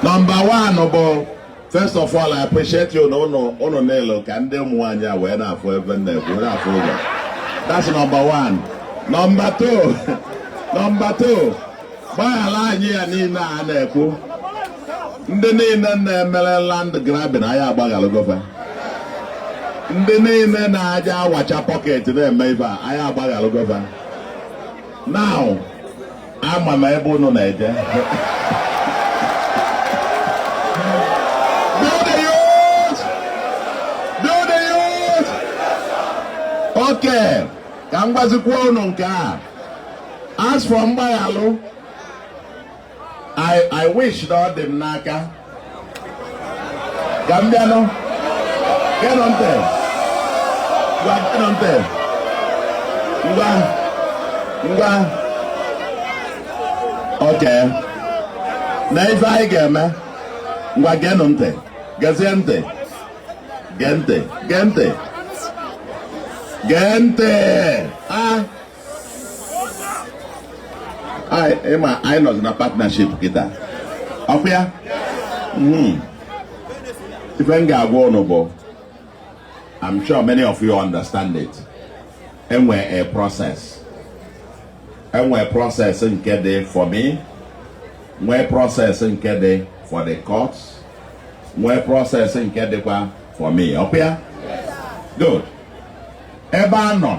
Number one bụ first of all I appreciate you na ụnụ ụnụ niile ka ndị ụmụ nwaanyị a wee na-afụ ebe nna ekwu na-afụ ụzọ that's number one number two number two gbaghara anyị ya niile a na-ekwu ndị niile na-emere land grabbing anyị agbaghalụgo va ndị niile na-aja awacha pọket na-eme ive a anyị agbaghalụgo va now ama m ebe unu na-eje okay ka m gwazikwa unu nke a as for mgbaghalụ I, I wish that ọ dị m n'aka ka m bịanụ geenụ ntị ngwa geenụ ntị ngwa ngwa okay nee ife anyị ga-eme ngwa geenụ ntị gezie ntị gee ntị gee ntị gee ntị a ị ma anyị nọzi na partnership kịta ọkwa ya hmm. ife m ga-agwa ụnụ bụ I'm sure many of you understand it e nwe a process e nwe process nke dị for me nwee process nke dị for the courts nwee process nke dịkwa for me ọkwa ya good ebe a nọ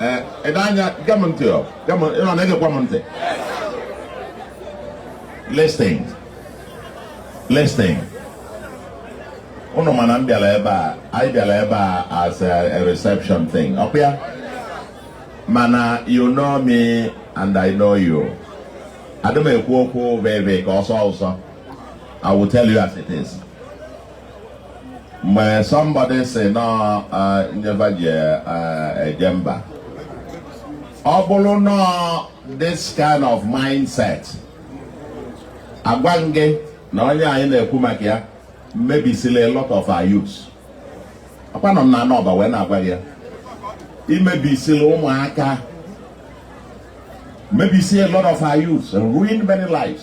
ee ede anya gwa m ntị ọ gwa m ụnụ na-egekwa m ntị listen listen ụnụ ma na m bịara ebe a anyị bịara ebe a as a, a reception thing ọkwa ya mana you know me and I know you adị m ekwu okwu veve ka ọsọ ọsọ I will tell you as it is mgbe somebody sị na ọ ife fa ji eje mba ọ bụrụ na ọ this kind of mindset a gwa gị na onye anyị na-ekwu maka ya mebisili a lot of our youth akwanọ m n'ana Ọba wee na-agwa gị ya i mebisili ụmụaka mebisi a lot of our youth ruin many lives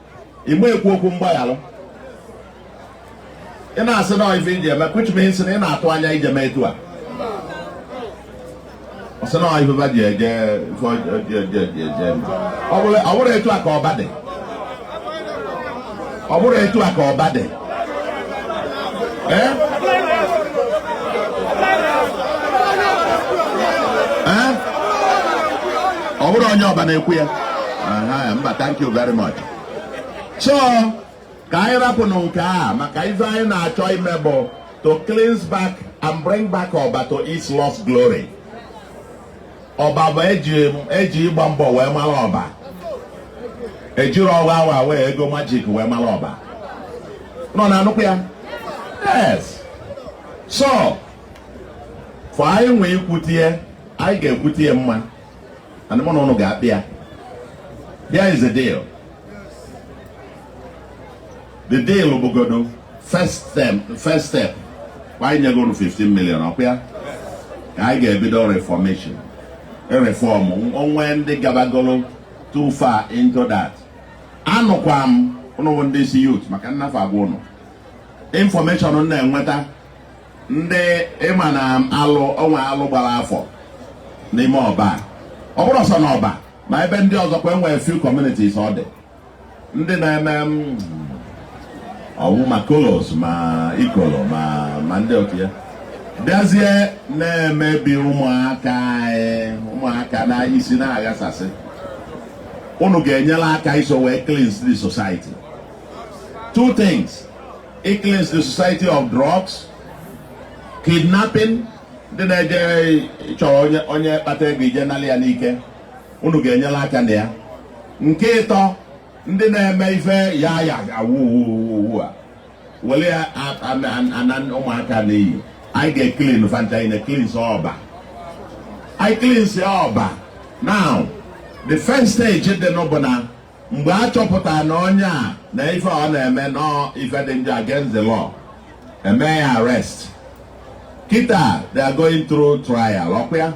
ị na-ekwu okwu mgbaghalụ ị na-asị na ife i ji eme which means na ị na-atụ anya ije mee etu a ọ sị na ife va ji eje ife ọjọọ eje eje eje eme. ọ bụrụ ọ bụrụ etu a ka Ọba dị ọ bụrụ etu a ka Ọba dị ọ bụrọ onye ọba na-ekwu ya mba thank you very much so ka anyị rapụnụ nke a maka ife anyị na-achọ ime bụ to cleanse back and bring back Oba to its lost glory. ọba bụ eji eji ịgba mbọ wee mara ọba ejirọ ọwa awa wee ego majik wee mara ọba ụnụ na-anụkwa ya yes so fọ anyị nwee ikwutie anyị ga-ekwutie mma and mụ na ụnụ ga-akpa ya there is a deal the deal bụgodo first step first step anyị nyego unu 15 million ọkwa ya ka anyị ga-ebido reformation reform o nwee ndị gabagolo too far into that anụkwa m ụnụ ndị isi youth maka nnafe agwa ụnụ information m na-enweta ndị ị ma na alụ o nwee alụ gbara afọ n'ime ọba ọ bụrọ sọọ na ọba ma ebe ndị ọzọ kwa e nwere few communities ọ dị ndị na-eme mm, ọgwụ ma kolos ma ikolo ma ma ndị otu a bịazie na-emebi ụmụaka anyị ụmụaka na isi na-aghasasị unu ga-enyere aka iso wee cleanse the society two things icleanse the society of drugs kidnapping ndị na-eje chọrọ onye onye kpata ego e jee nalị ya n'ike unu ga-enyere aka na ya nke ịtọ ndị na-eme ife ya yahoo a were ya ana ụmụaka n'iyi anyị ga-eclean fa ncha niine cleanse ọba anyị cleanse ọba now the first stage dị nụ bụ na mgbe a chọpụtara na onye a na ife ọ na-eme na ọ ife dị njọ against the law e mee ya arrest kịta they are going through trial ọkwa ya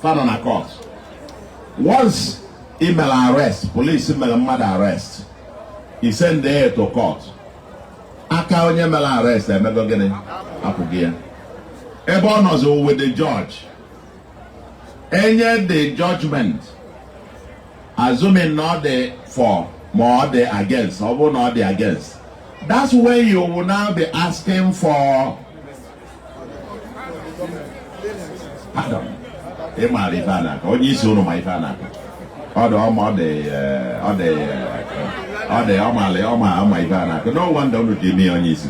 fa nọ na court once i mere arrest police mere mmadụ arrest i send ya to court aka onye mere arrest emego gịnị apụgo ya ebe ọ nọzi with the judge e nye the judgment assuming na ọ dị for ma ọ dị against ọ bụrụ na ọ dị against that's when you will now be asking for pardon ị maara ife a na-akọ onye isi ụnụ ma ife a na-akọ ọ dị ọma ọ dị eh, ọ dị eh, ọ dị ọma ọ ma ife a na-akọ no wonder unu ji eme ya onye isi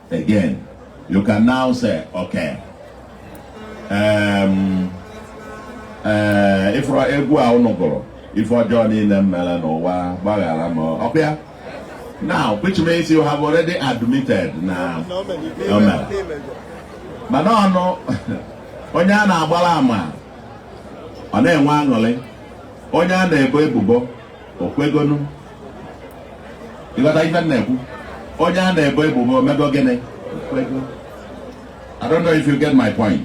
Again, you can now say, okay, um, uh, if egwu a unu gụrụ ife ọjọọ niile m mere n'ụwa gbaghara m ọkwa ya now which means you have already admitted na o mere mana ọ bụ na onye a na-agbara ama ọ na-enwe aṅụrị onye a na-ebo ebubo o kwegonu ị ghọta ife m na-ekwu onye a na-ebo ebubo o mego gịnị o kwego I don't know if you get my point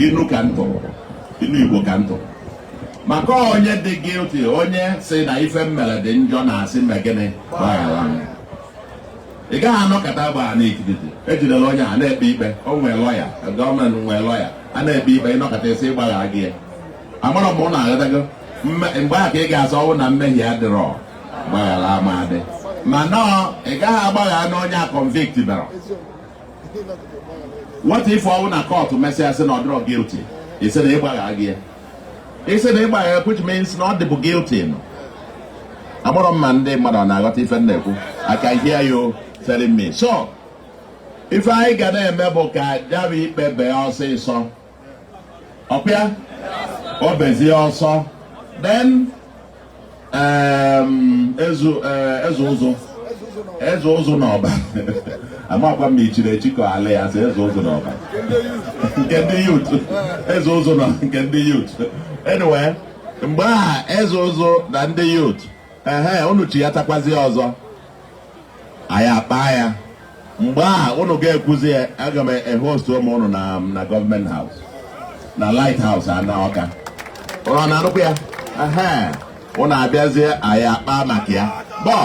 inu ka m tụ inu Igbo ka m tụ maka onye dị guilty onye sị na ife m mere dị njọ na-asị mee gịnị gbaghara m ị gaghị anọkata ugbu a na nkịtị ejidela onye a na-ekpe ikpe o nwee lọya gọọmenti nwee lọya a na-ekpe ikpe ị nọkata sị ị gbagharago ya amarọ m ma ụnụ aghọtago mgbe ahụ ka ị ga-asị ọ bụ na mmehie adịrọ mgbaghara ama adị mana ị gaghị agbaghara nụ onye a convict berọ what if ọ bụ na kọtụ mesịa sị na ọ dịrọ guilty ị sị na ị gbagharago ya ị sị na ị gbaghara which means na ọ dịbu guilty no amarọ m ma ndị mmadụ ọ na-aghọta ife m na-ekwu I can hear you telling me so ife anyị ga na-eme bụ ka ya bụ ikpe bee ọsịsọ e kpee ya o bezie so then um, eze uh, ụzụ eze ụzụ na ọba amarọkwa m i chiri echi ka a na-asị eze ụzụ na ọba nke ndị yut eze ụzụ na nke ndị yut anyway mgbe ahụ eze ụzụ na ndị yut ehe unu chi ya takwazi ọzọ anyị akpaa ya mgbe a ụnụ ga-ekwuzi ya aga m ehostu ụmụ ụnụ na na gọọmenti haus na lait haus a na Ọka ụlọ na anụkwu ya ehe ụnụ abịazie anyị akpaa maka ya bọọ